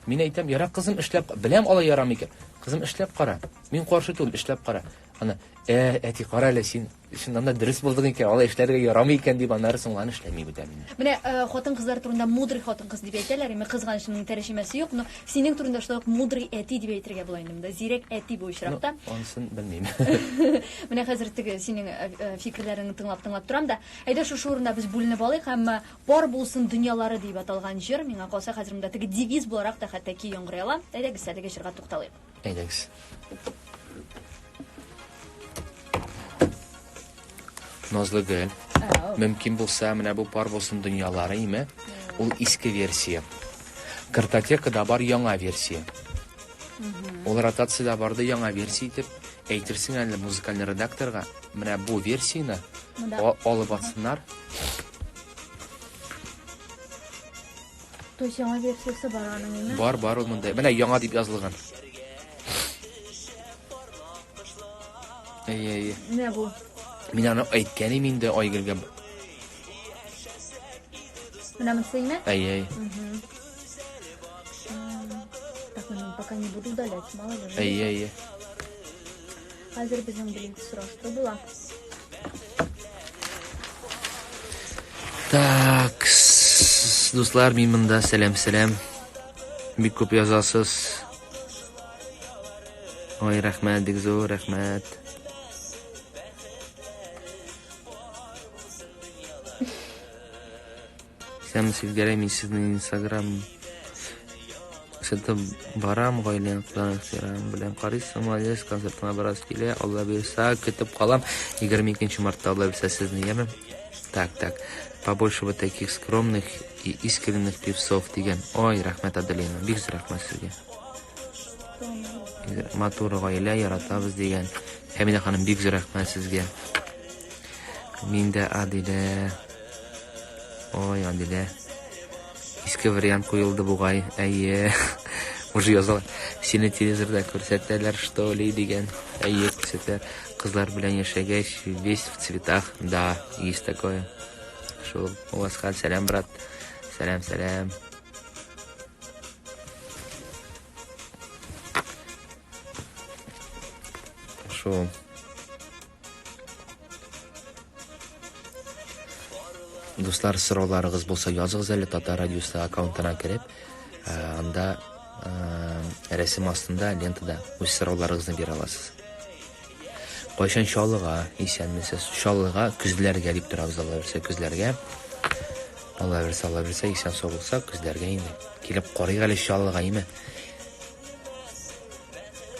Мин әйтәм, ярак кызым эшләп, беләм алай ярамый икән. Кызым эшләп кара. Мин каршы түгел, эшләп кара. Ана, э, әти, кара әле син, Чыннан да дөрес булдык икән, алай эшләргә ярамый икән дип, аннары соңланы эшләми бүтән инде. Менә э, хатын-кызлар турында мудрый хатын-кыз дип әйтәләр, инде кызганыч моның тәрҗемәсе юк, но синең турында шулай ук мудрый әти дип әйтергә була инде монда. Зирәк әти бу очракта. Ну, ансын белмим. Менә хәзер теге синең э, э, фикерләреңне тыңлап-тыңлап торам да. Әйдә шушы урында без бүленеп алыйк һәм э, бар булсын дөньялары дип аталган җыр миңа калса хәзер монда теге девиз буларак та хәтта ки яңгырый ала. Әйдәгез әлеге җырга тукталыйк. Әйдәгез. Назлы гөл. Мөмкин булса, менә бу пар булсын дөньялары име? Ул иске версия. Картотекада бар яңа версия. Ул ротацияда барды яңа версия итеп әйтерсең әле музыкальный редакторга менә бу версияне алып атсыннар То есть яңа версиясе бар аның, әйме? Бар, бар ул монда. Менә яңа дип язылган. Әйе, әйе. Менә бу. Мин аны әйткән идем инде Айгөлгә. Менә монысы әйме? Әйе, әйе. Так, пока не буду удалять, мало ли. Әйе, әйе. Хәзер безнең блинк сораштыру була. Так, дуслар, мин монда сәлам сәлам. Бик күп язасыз. Ой, рәхмәт, бик зур рәхмәт. Сәм Севгәрәй, мин сезнең инстаграм сәтем барам, гаилә ныкларын ихтирам белән карыйсың, молодец, концертыңа барасы килә, Алла бирса, көтеп калам, 22 мартта Алла бирса сезне, яме? Так, так, побольше вот таких скромных и искренних певцов дигән. Ой, рәхмәт, Аделина, бик зур рәхмәт сезгә. Матур гаилә яратабыз дигән. Хәмидә ханым, бик зур рәхмәт сезгә. Мин дә Аделя. Ой, Адилә. Иске вариант куелды бугай. Әйе. Уже язалар. Сине телевизорда күрсәтәләр, что ли, дигән. Әйе, күрсәтәләр. Кызлар белән яшәгәч, весь в цветах. Да, есть такое. Шул. Уасхан, сәлам, брат. Сәлам, сәлам. Шул. Дуслар, сорауларыгыз булса языгыз әле Татар радиосы аккаунтына кереп, э, анда э, рәсем астында лентада үз сорауларыгызны бирә аласыз. Кайчан Чаллыга исәнмесез? Чаллыга көзләргә дип торабыз Алла берсе көзләргә. Алла берсе, Алла берсе исән сау булса, көзләргә инде. Килеп карыйк әле Чаллыга, име?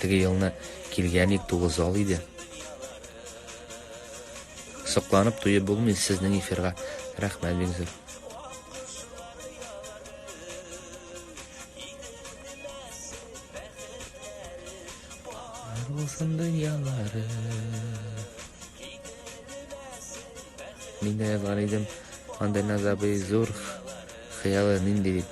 Теге елны килгән ик тугыз ал иде. Сокланып туеп булмый сезнең эфирга. Рәхмәт бик зур. Булсын дөньялары. Мин дә бар идем. Андайна забый зур хыялы нинди дип.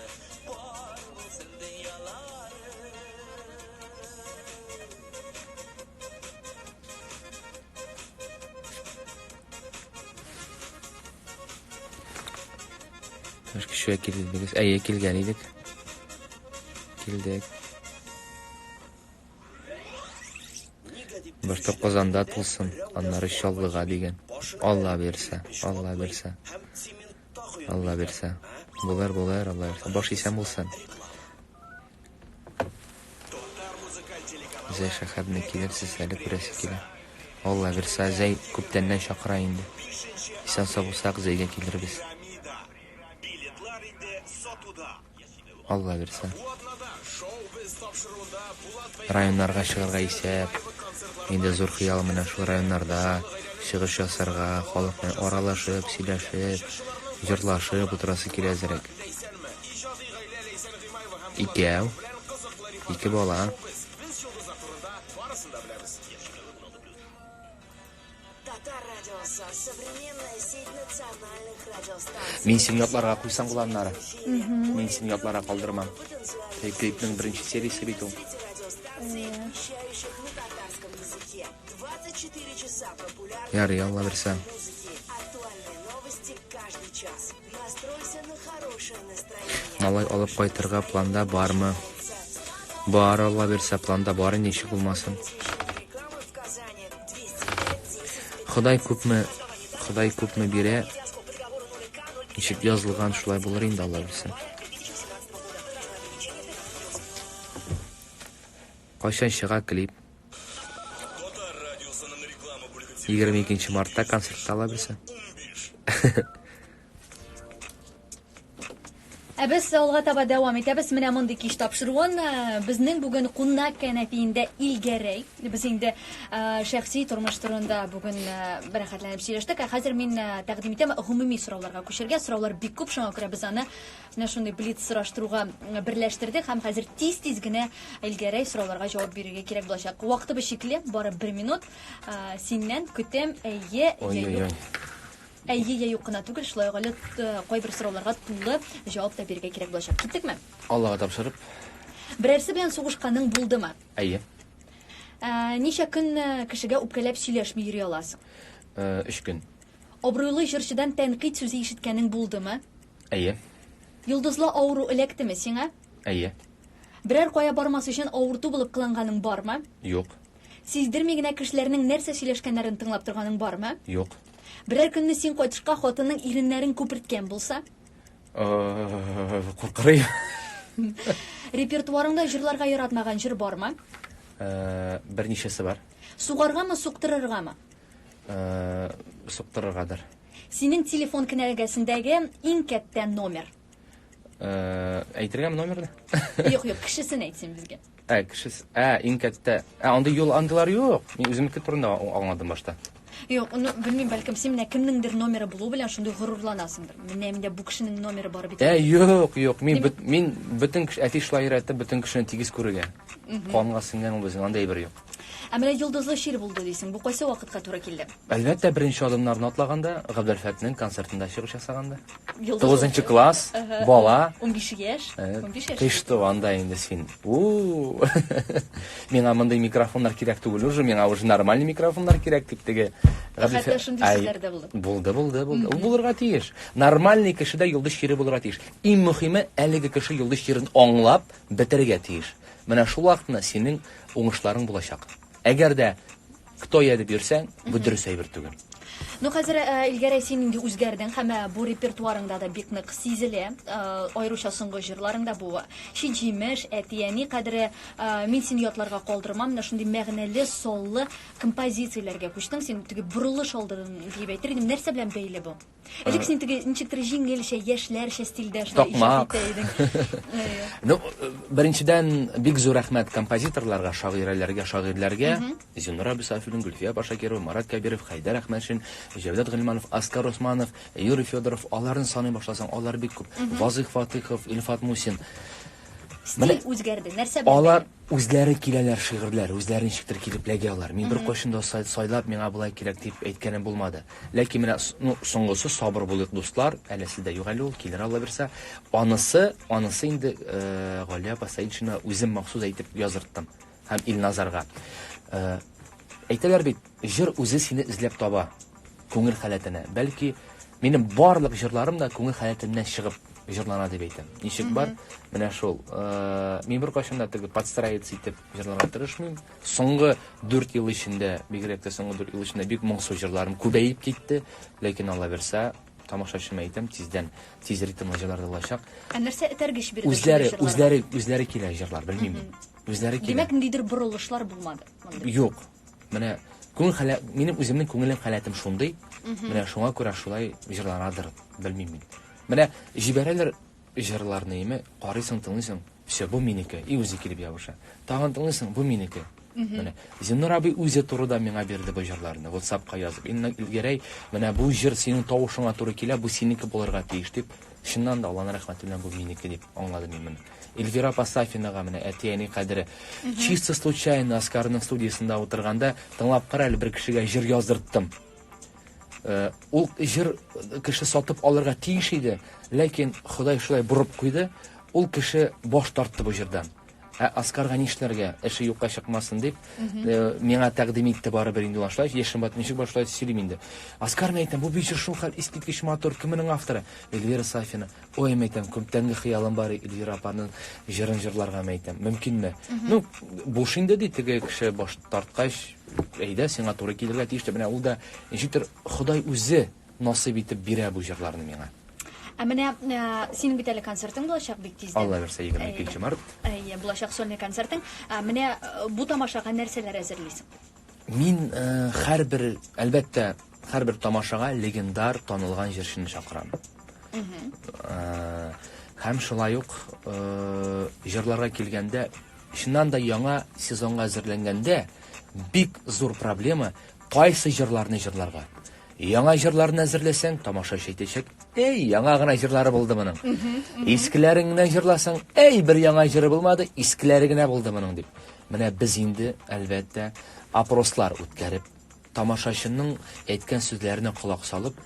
Бер кешегә килдегез. Әйе, килгән идек. Килдек. Бер тапказанда тулсын, аннары чаллыга дигән. Алла бирсә, Алла бирсә. Алла бирсә. Булыр, булыр, Алла бирсә. Баш исән булсын. Зәй шәхәбне килерсез әле күрәсе килә. Алла бирсә, Зәй күптәннән чакыра инде. Исән сау булсак, Зәйгә килербез. Алла бирсә. Районнарга чыгарга исәп. Инде зур хыял менә шул районнарда чыгыш ясарга, халык белән аралашып, сөйләшеп, җырлашып утырасы килә әзрәк. Икәү, ике бала. Мин син ятларга куйсаң була аннары. Мин син ятларга калдырмам. Тек клипның беренче сериясе бит ул. Ярый, Алла берсә. Малай алып кайтырга планда бармы? Бар, алла бирсә, планда бар инде, ничек булмасын. Ходай күпме, Ходай күпме бирә, ничек язылган шулай булыр инде, алла бирсә. Кайчан чыга клип? Егерме икенче мартта концертта ала берсе. Ә без алга таба дәвам итәбез. Менә мондый кич тапшыруын э, безнең бүген кунак кәнәфиендә Илгәрәй. Без инде э, шәхси тормыш турында бүген э, бәрәхәтләнеп сөйләштек. Ә хәзер мин тәкъдим итәм гомуми сорауларга күчергә. Сораулар бик күп, шуңа күрә без аны Менә шундый блиц сораштыруга берләштердек һәм хәзер тиз-тиз генә Эльгәрәй сорауларга җавап бирергә кирәк булачак. Вакытыбыз чикле, бары бер минут. Ә, Синнән көтәм, әйе, әйе, юк. Әйе, я юк кына түгел, шулай ук әле э, кайбер сорауларга тулы җавап та бирергә кирәк булачак. Киттекме? Аллага тапшырып, Берәрсе белән сугышканың булдымы? әйе. Ә, Ничә көн э, кешегә үпкәләп сөйләшми йөри аласың? Э, Өч көн. Абруйлы җырчыдан тәнкыйть сүзе ишеткәнең булдымы? Әйе. Йолдызлы авыру эләктеме сиңа? Әйе. Берәр кая бармас өчен авырту булып кыланганың бармы? Юк. Сиздерми генә кешеләрнең нәрсә сөйләшкәннәрен тыңлап торганың бармы? Юк. Берәр көнне син кайтышка хатының иреннәрен күперткән булса? Куркырый. Репертуарыңда җырларга яратмаган җыр бармы? Берничәсе бар. Сугаргамы, суктырыргамы? Суктырыргадыр. Синең телефон кенәгәсендәге иң кәттә номер. Э, Әйтергәме номерны? Юк, юк, кешесен әйт син безгә. Ә, кешес, ә, иң кәттә. Ә, андый юл андылар юк. Мин үземнеке турында а- аңладым башта. Юк, ну, белмим, бәлкем син менә кемнеңдер номеры булу белән шундый горурланасыңдыр. Менә миндә бу кешенең номеры бар бит. Ә, юк, юк. Мин, Димәк- бөт- мин бөтен кеше, әти шулай өйрәтте, бөтен кешене тигез күрергә. Канга сеңгән ул безнең, андый әйбер юк. Ә менә йолдызлы чир булды дисең, бу кайсы вакытка туры килде? Әлбәттә, беренче адымнарны атлаганда, Габделфәтнең концертында чыгыш ясаганда. Йолдызлы Тугызынчы чир. класс, Ага. бала. Унбиш яшь. Э, Унбиш яшь. Кыш туганда инде син. У-у-у. Миңа мондый микрофоннар кирәк түгел уже, миңа уже нормальный микрофоннар кирәк, дип теге Габделфә- Хәтта шундый Ай, сүзләр дә булды. Булды, булды, булды. Ул булырга тиеш. Нормальный кешедә йолдыз чире булырга тиеш. Иң мөһиме, әлеге кеше йолдыз чирен аңлап бетерергә тиеш. Менә шул вакытны синең Уңышларың булачак. Әгәр дә кто я дип йөрсәң, бу дөрес әйбер түгел. Ну хәзер э, Илгәрәй син инде үзгәрдең һәм э, бу репертуарыңда да бик нык сизелә. Э, аеруча соңгы җырларыңда бу чи җимеш, әти-әни кадере мин сине ятларга калдырмам. Менә шундый мәгънәле, соллы композицияләргә күчтең. Син теге борылыш алдың дип әйтер идем. Нәрсә белән бәйле бу? Элек син теге ничектер җиңелчә, яшьләрчә стильдә шулай иҗат итә идең. Ну, беренчедән бик зур рәхмәт композиторларга, шагыйрәләргә, шагыйрьләргә. Зинура Бисафина, Гөлфия Башакирова, Марат Кәбиров, Хәйдәр Әхмәтшин, Җәүдәт Гыйльманов, Аскар Османов, Юрий Федоров, аларны саный башласаң, алар бик күп. Вазыйх Фатыхов, Илфат Мусин. Менә Стиль үзгәрде. Нәрсә белән Алар бәйле? үзләре киләләр шигырьләр, үзләре ничектер килеп ләги алар. Мин беркайчан да сай- сайлап, миңа болай кирәк дип әйткәнем булмады. Ләкин менә с- ну, соңгысы сабыр булыйк, дуслар, әләсе дә юк әле ул, килер Алла бирсә. Анысы, анысы инде э, Галия апа Сәетшина үзем махсус әйтеп яздырттым. Һәм Илназарга. Әйтәләр бит, җыр үзе сине эзләп таба, күңел халәтенә. Бәлки, минем барлык җырларым да күңел халәтеннән чыгып җырлана дип әйтәм. Ничек бар? Менә шул. Э, мин бер кашын да теге подстраиваться итеп җырларга тырышмыйм. Соңгы 4 ел эчендә, бигрәк тә соңгы 4 ел эчендә бик моңсу җырларым күбәеп китте, ләкин Алла берсә, тамашачыма әйтәм, тиздән тиз ритмлы җырлар булачак. Ә нәрсә этәргеч бирде? Үзләре, үзләре, үзләре килә җырлар, белмим. Үзләре килә. Димәк, ниндидер борылышлар булмады. монда. Юк. Менә күңел халә минем үземнең күңелем халәтем шундый. Менә шуңа күрә шулай җырланадыр, белмим мин. Менә җибәрәләр җырларны име, карыйсың, тыңлыйсың, все, бу минеке, и үзе килеп ябыша. Тагын тыңлыйсың, бу минеке. Менә Зиннур абый үзе турыда миңа бирде бу җырларны, WhatsApp-ка язып. Инна Гәрәй, менә бу җыр синең тавышыңа туры килә, бу синеке булырга тиеш дип, чыннан да Алланың рәхмәте белән бу минеке дип аңладым мин моны. Эльвира апа Сафинага менә әти-әни кадере. Чисто случайно Оскарның студиясендә утырганда тыңлап кара әле бер кешегә җыр яздырттым. Э, ул җыр кеше сатып алырга тиеш иде, ләкин Ходай шулай борып куйды, ул кеше баш тартты бу җырдан. Ә Оскарга нишләргә? Эше юкка чыкмасын дип, э, миңа тәкъдим итте барыбер инде башлай, яшем бат ничек башлай сөйлим инде. Оскар әйтәм, бу бит җыр шулкадәр искиткеч матур, кемнең авторы? Эльвира Сафина. Ой, мәйтәм, күптәнге хыялым бар Эльвира апаның җырын җырларга мәйтәм. Мөмкинме? Ну, буш инде ди теге кеше баш тарткач, әйдә, сиңа туры килергә тиеш дип, менә ул да ничектер Ходай үзе насыйп итеп бирә бу җырларны миңа. Ә менә ә, синең бит әле концертың булачак бик тиздән. Алла бирсә, 22 март. Әйе, булачак сольный концертың. Ә, менә э, бу тамашага нәрсәләр әзерлисең? Мин һәрбер, әлбәттә, һәрбер тамашага легендар, танылган җырчыны чакырам. Һәм шулай ук җырларга килгәндә, чыннан да яңа сезонга әзерләнгәндә бик зур проблема кайсы җырларны җырларга. Яңа җырларны әзерләсәң, тамашачы әйтәчәк, әй, яңа гына җырлары булды моның. Искеләрен генә җырласаң, әй, бер яңа җыры булмады, искеләре генә булды моның дип. Менә без инде, әлбәттә, опрослар үткәреп, тамашачының әйткән сүзләренә колак салып,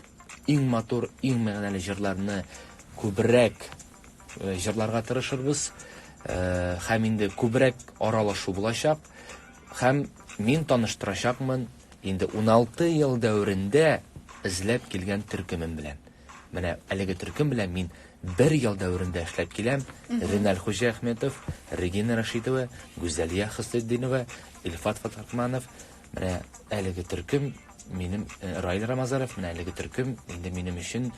иң матур, иң мәгънәле җырларны күбрәк э, җырларга тырышырбыз. Э, һәм инде күбрәк аралашу булачак. Һәм мин таныштырачакмын Инде уналты ел дәверендә эзләп килгән төркемем белән. Менә әлеге төркем белән мин бер ел дәверендә эшләп киләм. Реналь Хуҗиәхметов, Регина Рашидова, Гүзәлия Хөснетдинова, Илфат Фатхатманов. Менә әлеге төркем минем э, Раил Рамазаров, менә әлеге төркем инде минем өчен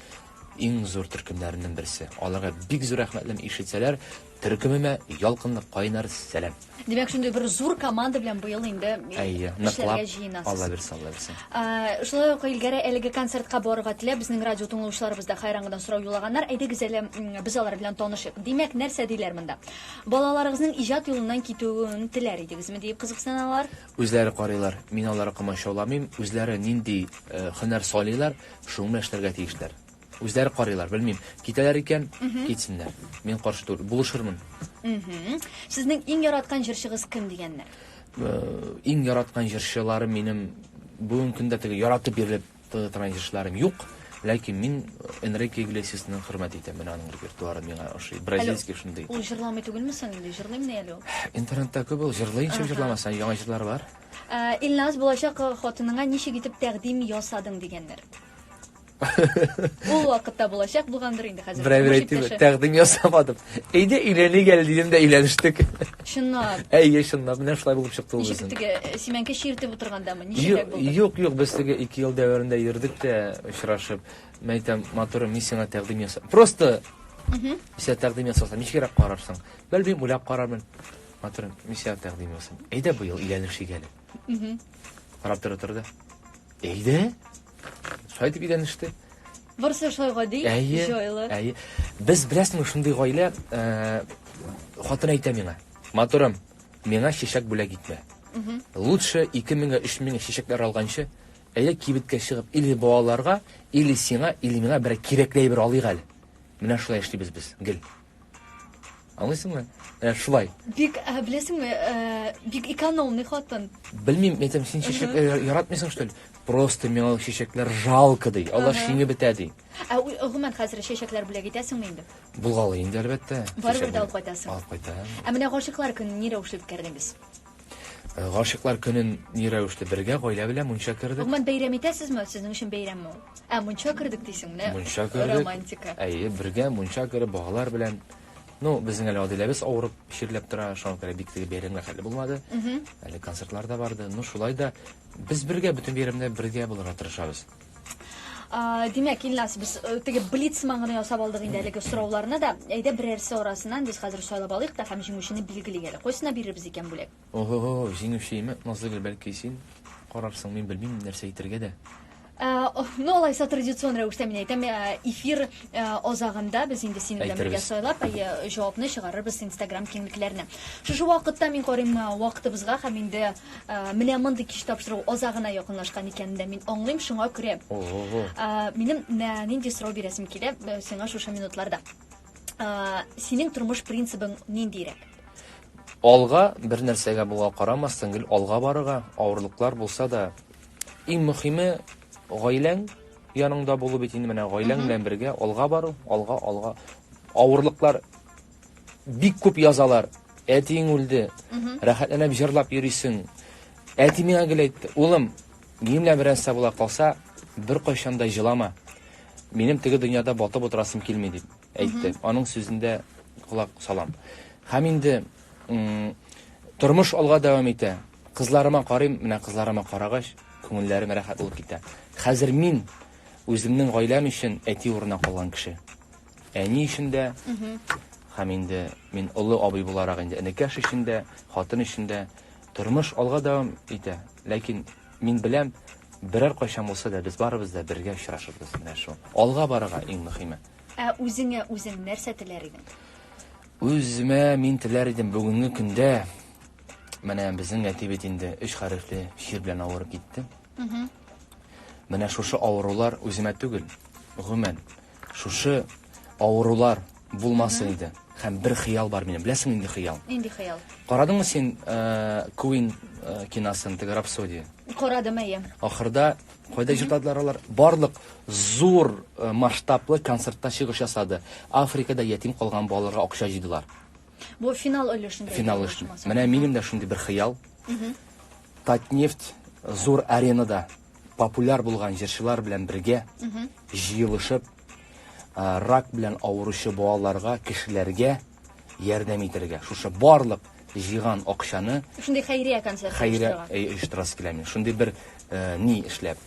иң зур төркемнәрнең берсе. Аларга бик зур рәхмәтлем ишетсәләр, Төркемемә ялкынлы кайнар сәлам. Димәк, шундый бер зур команда белән быел инде Әйе, нишләргә ныклап җыенасыз? Алла бирсә, Алла бирсә. Ә, Шулай ук Илгәрә әлеге концертка барырга теләп, безнең радио тыңлаучыларыбыз да хәйран гына сорау юллаганнар. Әйдәгез әле м, без алар белән танышыйк. Димәк, нәрсә диләр монда? Балаларыгызның иҗат юлыннан китүен теләр идегезме диеп кызыксыналар. Үзләре карыйлар, мин аларга комачауламыйм, үзләре нинди э, һөнәр сайлыйлар, шуны белән эшләргә тиешләр. Үзләре карыйлар, белмим. Китәләр икән, китсеннәр. Мин каршы түгел, булышырмын. Сезнең иң яраткан җырчыгыз кем дигәннәр? Э, иң яраткан җырчыларым минем бүгенге көндә теге яратып бирелеп тыңлатырган җырчыларым юк. Ләкин мин Энрике Иглесиасны хөрмәт итәм. Менә аның репертуары миңа ошый. Бразильский шундый. Ул җырламый түгелме соң инде? Җырлыймы ни әле ул? Интернетта күп ул җырлый, ничек җырламаса, яңа җырлары бар. Э, Илназ булачак хатыныңа ничек итеп тәкъдим ясадың дигәннәр. Ул вакытта булачак булгандыр инде хәзер. Берәү әйтте, тәкъдим ясамадым. Әйдә өйләнә гел дидем дә өйләнештек. Чынлап. Әйе, чынлап. Менә шулай булып чыкты ул. Ничек теге э, симәнкә чиртеп утыргандамы? Ничек булды? Юк, юк, без теге 2 ел дәверендә йөрдек тә очрашып. Мен әйтәм, матур, мин сиңа тәкъдим ясам. Просто Мисә тәкъдим ясасам, ничегрәк карарсың? Белмим, уйлап карармын. Матур, мисә тәкъдим ясам. Әйдә быел өйләнешик әле. Карап тора торды. Әйдә? Шулай дип өйләнеште. Барысы шулай гади, Әйе, җайлы. әйе. Без беләсеңме шундый гаилә, э, хатын әйтә миңа, матурым, миңа чәчәк бүләк итмә. Лучше 2000-гә 3000-гә чәчәкләр алганчы, әйдә кибеткә чыгып, или балаларга, или сиңа, или миңа берәр кирәкле әйбер алыйк әле. Менә шулай эшлибез без, гел. Аңлыйсыңмы? Ә, шулай. Бик, ә, беләсеңме, ә, бик экономный хатын. Белмим, мен әйтәм, син чәчәк э, яратмыйсың, что ли? Просто миңа чәчәкләр жалко ди. Алар шиңе бетә ди. Ә гомумән хәзер чәчәкләр бүләк итәсеңме инде? Булгалы инде, әлбәттә. Барыбер дә алып кайтасың. Алып кайтам. Ә менә гашыйклар көнен ни рәвешле үткәрдегез? Э, Гашыклар көнен ни рәвештә бергә гаилә белән мунча кердек. Гомумән бәйрәм итәсезме? Сезнең өчен бәйрәмме ул? Ә мунча кердек дисең, менә Мунча кердек. романтика. Әйе, бергә мунча кереп балалар белән. Ну, безнең әле Адиләбез авырып чирләп тора, шуңа күрә бик теге бәйрәмгә хәле булмады. Әле концертлар да барды. Ну, шулай да без бергә бөтен бәйрәмдә бергә булырга тырышабыз. Димәк, Илнас, без э, теге блиц маңына ясап алдык инде әлеге сорауларны да. Әйдә берәрсе арасыннан без хәзер сайлап алыйк та һәм җиңүчене билгелик әле. Кайсына бирербез икән бүләк? Ого, җиңүче име? Назлыгөл, бәлки син карарсың, мин белмим нәрсә әйтергә дә. Э, ну алайса традицион рәвештә мин әйтәм э, эфир э, азагында без инде синең белән бергә сайлап җавапны чыгарырбыз инстаграм киңлекләренә шушы вакытта мин карыйм вакытыбызга һәм инде Менә мондый кич тапшыру азагына якынлашкан икәнен дә мин аңлыйм, шуңа күрә минем нинди сорау бирәсем килә сиңа шушы минутларда. Синең тормыш принцибың ниндирәк? Алга, бер нәрсәгә булга карамастан, гел алга барырга, авырлыклар булса да. Иң мөхиме, гаиләң яныңда булу бит инде, менә гаиләң белән бергә алга бару, алга, алга. Авырлыклар бик күп язалар. Әтиең үлде. Рәхәтләнеп җырлап йөрисең. Әти миңа гел әйтте, улым, минем белән нәрсә була калса, бер кайчан да җылама. Минем теге дөньяда батып утырасым килми дип әйтте. Аның сүзендә колак салам. Һәм инде тормыш алга дәвам итә. Кызларыма карыйм, менә кызларыма карагач, күңелләрем рәхәт булып китә. Хәзер мин үземнең гаиләм өчен әти урынына калган кеше. Әни өчен дә, һәм инде мин олы абый буларак инде энекәш өчен дә, хатын өчен дә. Тормыш алга дәвам итә. Ләкин мин беләм, берәр кайчан булса да без барыбыз да бергә очрашырбыз. Менә шул. Алга барырга иң мөхиме. Ә үзеңә үзең нәрсә теләр идең? Үземә мин теләр идем бүгенге көндә менә безнең әти бит инде өч хәрефле чир белән авырып китте. Менә шушы авырулар үземә түгел, гомумән, Шушы авырулар булмасын иде. Һәм бер хыял бар минем. Беләсең нинди хыял? Нинди хыял? Карадыңмы син э, Queen э, киносын, теге рапсодия? Карадым, әйе. Ахырда кайда җырладылар алар? Барлык зур э, масштаблы концертта чыгыш ясады. Африкада ятим калган балаларга акча җыйдылар. Бу финал өлешендә. Финал өлешендә. Менә минем дә шундый бер хыял. Татнефть зур аренада популяр булган җырчылар белән бергә җыелышып, рак белән авыручы балаларга, кешеләргә ярдәм итәргә. Шушы барлык җыйган акчаны Шундый хәйрия концерт хәйрә оештырасы килә мин. Шундый бер ни эшләп,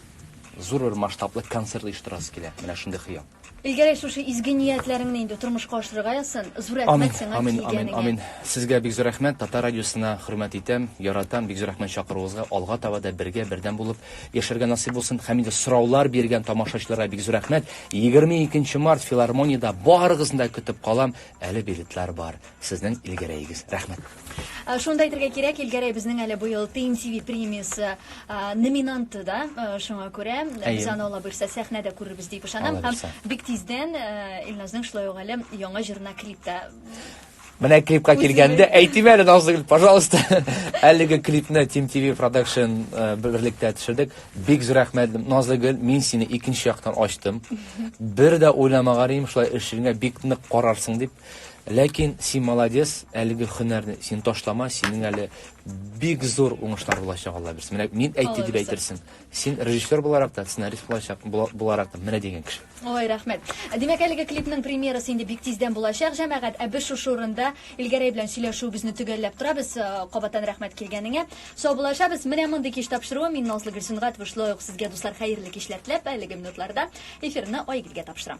зур бер масштаблы концерт оештырасы килә. Менә шундый хыял. Илгәрәй шушы изге ниятләреңне инде тормышка ашырырга язсын. Зур рәхмәт сиңа Амин, амин, килгәнеңә. амин. Сезгә бик зур рәхмәт. Татар радиосына хөрмәт итәм, яратам. Бик зур рәхмәт чакыруыгызга. Алга таба да бергә, бердәм булып яшәргә насыйп булсын. Һәм инде сораулар биргән тамашачыларга бик зур рәхмәт. 22 март филармониядә барыгызны да көтеп калам. Әле билетлар бар. Сезнең Илгәрәегез. Рәхмәт. Э, шуны да әйтергә кирәк, Илгәрәй безнең әле быел ТМТВ премиясе э, номинанты да, э, шуңа күрә без аны ала бирсә сәхнәдә күрербез дип ышанам һәм бик тиздән Илназның шулай ук әле яңа җырына клип та Менә клипка килгәндә әйтим әле Назгөл, пожалуйста. Әлеге клипны Team TV Production э, берлектә төшердек. Бик зур рәхмәт Назгөл, мин сине икенче яктан ачтым. Бер дә уйламаганым шулай эшеңә бик нык карарсың дип. Ләкин син молодец, әлеге хөнәрне син ташлама, синең әле бик зур уңышлар булачак, Алла бирсен. Менә мин әйтте дип әйтерсең. Син режиссер буларак та, сценарист булачак, буларак та менә дигән кеше. Ой, рәхмәт. Димәк, әлеге клипның премьерасы инде бик тиздән булачак, җәмәгать. Ә без шушы урында Илгәрәй белән сөйләшүебезне төгәлләп торабыз. Э, кабаттан рәхмәт килгәнеңә. Саубуллашабыз. Менә мондый кич тапшыруы мин Назлы Гөлсенгатова шулай ук сезгә, дуслар, хәерле кичләр теләп, әлеге минутларда эфирны Айгөлгә тапшырам.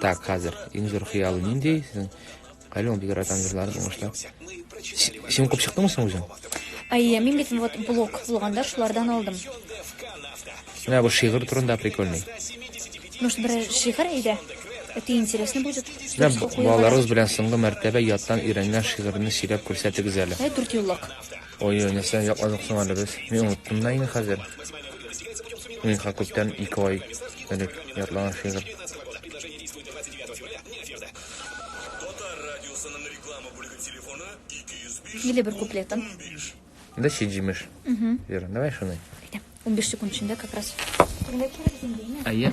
Так, хәзер иң зур хыялы нинди? Сезнең Калион бик яратам җырларын уңышлар. Син укып чыктыңмы соң үзең? Әйе, мин бит вот блок булганда шулардан алдым. Менә бу шигырь турында прикольный. Может, бер шигырь әйдә? Это интересно будет. Менә балаларыбыз белән соңгы мәртәбә яттан өйрәнгән шигырьне сөйләп күрсәтегез әле. Ә дүрт юллык. Ой, ой, нәрсә якладык соң әле без? Мин оныттым да инде хәзер. Миңа күптән ике ай элек ятлаган шигырь. Или бер куплетын. Да чи җимеш. Вера, давай шуны. 15 секунд эчендә как раз. Әйе.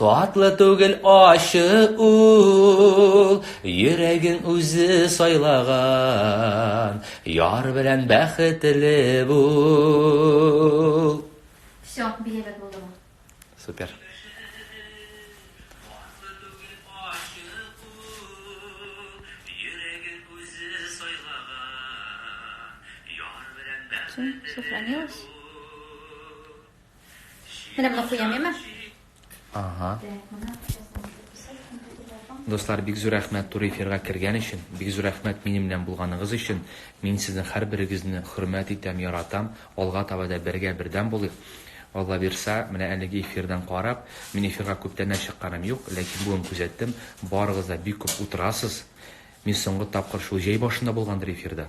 Татлы түгел ачы ул, йөрәгең үзе сайлаган, яр белән бәхетле бул. Все, билет булды бу. Супер. Сохранилось? Менә моны куям, яме? Ага. Дуслар, бик зур рәхмәт тур эфирга кергән өчен, бик зур рәхмәт минем белән булганыгыз өчен. Мин сезнең һәрберегезне хөрмәт итәм, яратам. Алга таба да бергә бердәм булыйк. Алла бирса, менә әлеге эфирдан карап, мин эфирга күптәннән чыкканым юк, ләкин бүген күзәттем, барыгыз да бик күп утырасыз. Мин соңгы тапкыр шул җәй башында булгандыр эфирда.